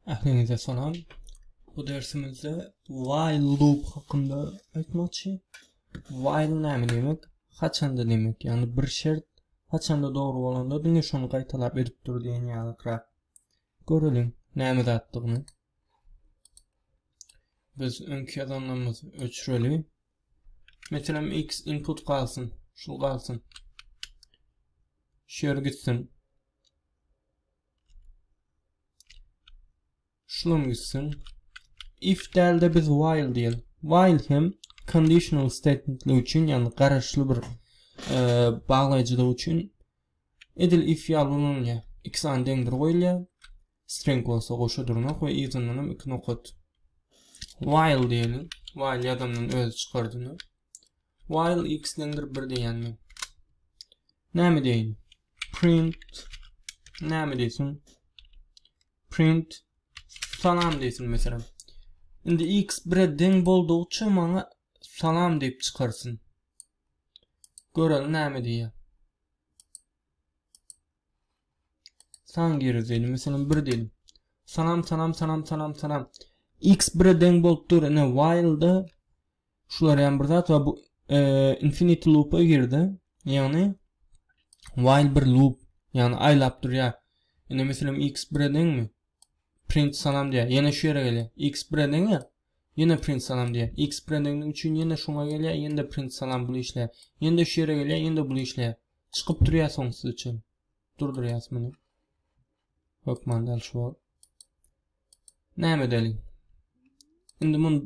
Ähliňize salam. Bu dersimizde while loop hakynda aýtmakçy. While näme diýmek? Haçanda diýmek. Ýagny bir şert haçanda dogry bolanda diňe şony gaýtalap edip dur diýen ýalyrak. Göreliň näme zatdygyny. Biz öňki ýazanlarymyzy öçüreli. Meselem x input galsyn, şu galsyn. Şu ýere gitsin. Şunam gitsin. If dälde biz while diýen. While hem conditional statementler üçin, ýagny garaşly bir e, baglaýjylyk üçin edil if ýaly ulanylýar. Iki sany deňdir goýulýar. String bolsa goşa durnak we yzyndan hem iki nokat. While diýeli. While ýazandan özi çykardyny. While x deňdir 1 diýýän men. Näme deýin? Print näme diýsin? Print salam diýsin meselem. Indi x 1-e deň boldugyça maňa salam diýip çykarsyn. Görelim näme diýýär. San geri diyelim. Mesela 1 diyelim. Sanam sanam sanam sanam sanam. X 1'e deň bolup dur. Ine while'da şular yani bir zat var. Bu e, infinity loop'a girdi. Yani while bir loop. Yani aylap dur ya. Ine mesela X 1'e deňmi? Print sanam diye. Yine şu yere geliyor. X 1'e deň ya. Ýene print salam diýýär. X brendingi üçin ýene şuňa gelýär, ýene-de print salam bul işleýär. Ýene-de şu ýere gelýär, ýene-de bul işleýär. Çykyp durýar soňsuz üçin. Durdurýas muny. Hökman däl şu bol. Näme edeli? Indi muny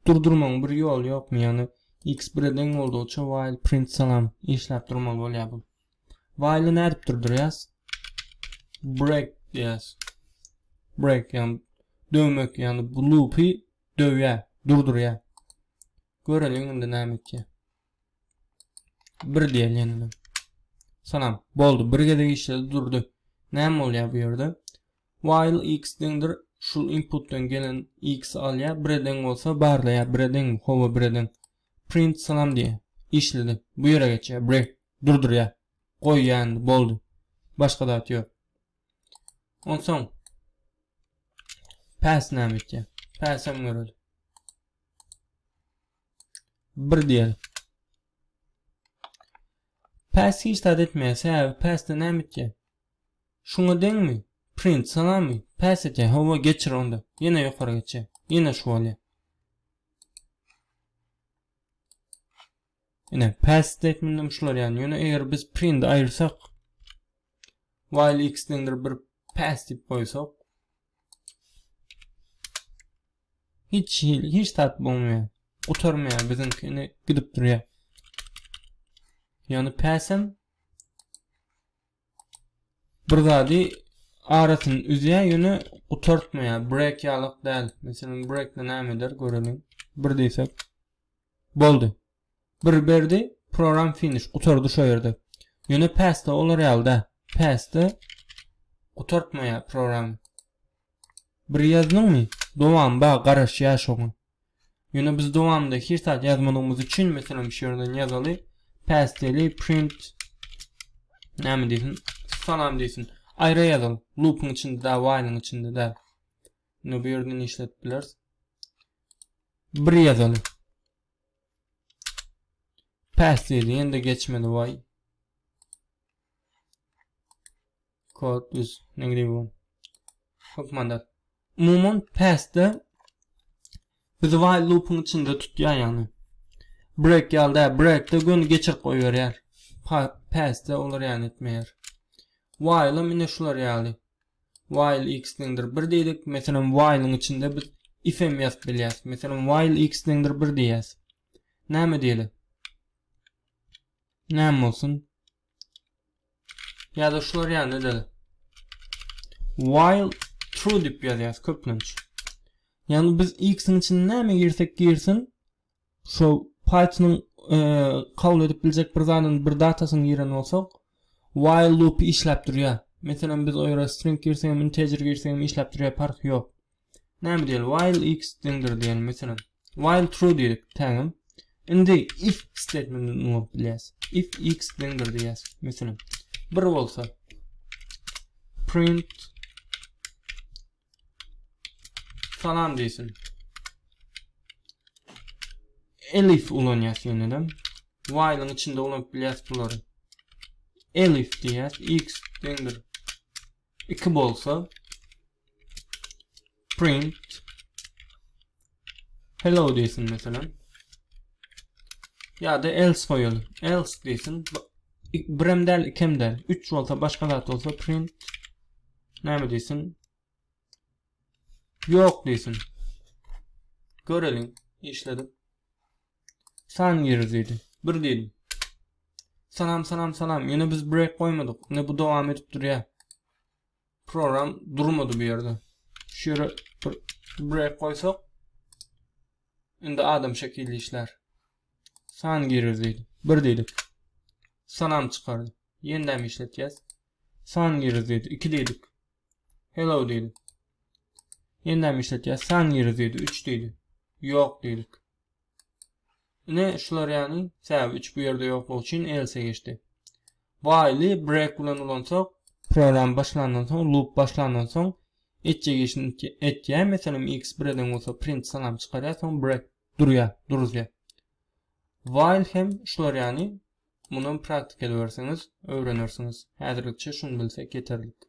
durdurmaň bir ýoly ýokmy? Ýagny X brending boldugyça while print salam işläp durmaly bolýar bu. While nädip durdurýas? Break diýäs. Break ýagny döwmek ýagny bu loopy döwýä, durdurýa. Göreliň indi näme etýä. Bir diýeli ýene. Salam. Boldy. Bir gezek işledi durdy. Näme bolýa bu ýerde? While x deňdir şul inputdan gelen x alýa, bireden bolsa barlaýa, bireden, howa bireden. Print salam diýýä. Işledi. Bu ýere geçýä. Bri. Durdurýa. Goý ýandy. Boldy. Başga zat ýok. Onsoň Pass näme etýä? Pass hem göreli. Bir diýeli. Pass hiç zat etmeýä. Sebäbi passda näme etýä? Şuňa deňmi? Print salamy? Pass etýä. Hawa geçir onda. Ýene ýokary geçýä. Ýene şu bolýa. Ine, pass statementim şular ýagny. Ýöne eger biz print aýyrsak, while x deňdir bir pass diýip goýsak, hiç hil, hiç zat bolmaýar. Gutarmaýar biziňki ine gidip durýar. Ýöne pass hem bir zady arasyny üzýär ýöne gutartmaýar break ýalyk däl meselem breakde näme eder göreliň bir diýsek boldy bir berdi program finish gutardy şo ýerde ýöne passda olar ýaly däl passda gutartmaýar program bir ýazdyňmy dowam bar garaşýar şoňa Ýöne biz dowamynda her saat ýazmalygymyz üçin meselem şu ýerden ýazaly pasteli print näme diýsin salam diýsin aýra ýazal loopyň içinde da while'yň içinde da indi bu ýerde işletip bileris bir ýazaly pasteli ýende geçmedi why Kod biz negri bu. Hukmanda. Umuman pastda biz while loop'un içinde tutýar ýagny. Break ýalda break'de gün geçir goý berýär. Pastda olar ýany etmeýär. While mine şular ýaly. While x deňdir 1 diýdik. Meselem while'un içinde biz if hem ýazyp bilýäs. Meselem while x deňdir 1 diýýäs. Näme diýeli? Näme bolsun? Ya da şular ýaly da. While true dip ýazýas köplenç. Yani biz x-iň içine näme girsek girsin, şu Python-yň e, kabul edip biljek bir zadyny, bir datasyny giren bolsak, while loop işläp durýar. Meselem biz o ýere string girsegem, integer girsegem işläp durýar, park ýok. Näme diýeli? While x deňdir diýeli meselem. While true diýdik tägim. Indi if statementini ulyp bilýäs. If x deňdir diýýäs meselem. Bir bolsa print salam diýsin. Elif ulanýas ýene-de. While-iň içinde ulyp bilýäs bulary. Elif diýýäs x deňdir 2 bolsa print hello diýsin meselem ýa-da else goýaly else diýsin birem däl ikem däl 3 bolsa başga zat bolsa print näme diýsin ýok diýsin göreliň işledip Salam girdi diýdi. Bir diýdim. Salam salam salam. Ýöne biz break goýmadyk. Indi bu dowam edip durýar. Program durmady bu ýerde. Şu ýere bir break goýsak indi adam şekilli işlär. San girir diýdi. Bir diýdi. Salam çykardy. Ýene-de işletýäs. San girir diýdi. Iki diýdi. Hello diýdi. Ýene-de işletýäs. San girir diýdi. Üç diýdi. Ýok diýdi. Ine şular ýany tab 3 bu ýerde ýoklugy üçin else geçdi. While break bilen ulansak, program başlandan soň, loop başlandan soň etjek işini etýär. Meselem, x 1 eden bolsa print salam çykarýar, soň break durýar, duruzýar. While hem şular ýany muny praktika edersiňiz, öwrenersiňiz. Häzirlikçe şuny bilsek ýeterlik.